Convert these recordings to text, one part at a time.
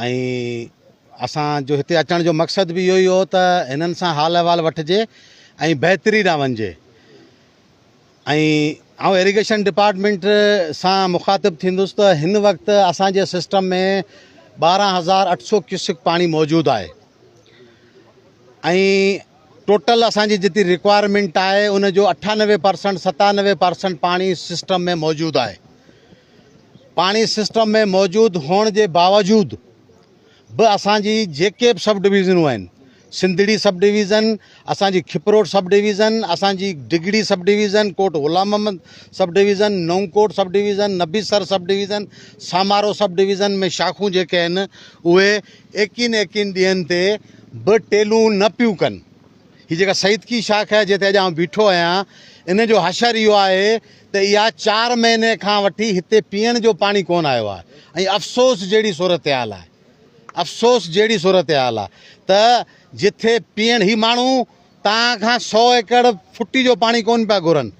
۽ اسان جو هتي اچڻ جو مقصد به اهو ئي هو ته هنن سان حال احوال وٺجي ۽ بهتري ڏانهن وڃجي ۽ آئون ايريگيشن ڊپارٽمينٽ سان مخاطب ٿيندس ته هن وقت اسان جي سسٽم ۾ ٻارهن هزار اٺ سو ڪيوسڪ پاڻي موجود آهي ۽ ٽوٽل اسان جي جتي رڪوائرمينٽ آهي ان جو اٺانوي پرسنٽ ستانوي پرسنٽ پاڻي سسٽم ۾ موجود آهي پاڻي سسٽم ۾ موجود هئڻ جي باوجود به اسان جي جيڪي به سب ڊويزنون آهن سنڌڙي سب ڊويزن اسان جي کپروٽ سب ڊويزن اسان جي Digri sub division Kot Ghulam Muhammad sub division Naukot sub division Nabisar sub division Samaro sub division ۾ شاخون جيڪي آهن اهي ايڪين ايڪين ڏينهن تي به ٽيلون نه پيون ڪن هي جيڪا سيدڪي شاخ آهي جنهن تي اڄ آئون بيٺو آهيان ان جو حشر اهو آهي ته اها چار مهيني کان وٺي هتي پيئڻ جو پاڻي ڪونه آيو آهي ۽ افسوس جهڙي صورتحال آهي افسوس جهڙي صورتحال آهي ته جٿي پيئڻ هي ماڻهو تان کان سو ايڪڙ ڦٽي جو پاڻي ڪونه پيا گهرن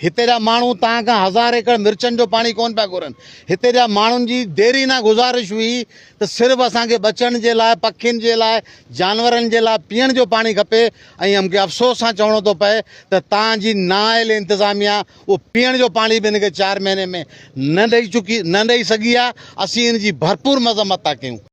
هتي جا ماڻهو تان کان هزار ايڪڙ مرچن جو پاڻي ڪونه پيا گهرن هتي جا ماڻهن جي ديرينا گذارش هئي ته صرف اسان کي ٻچن جي لاء، پکين جي لاء، جانورن جي لاء پيئڻ جو پاڻي کپي ۽ مون کي افسوس سان چوڻو ٿو پئي ته تان جي نااهل انتظاميا اهو پيئڻ جو پاڻي به هن کي چار مهيني ۾ نه ڏئي چڪي نه ڏئي سگهي آهي، اسين ان جي ڀرپور مذمت ٿا ڪيون.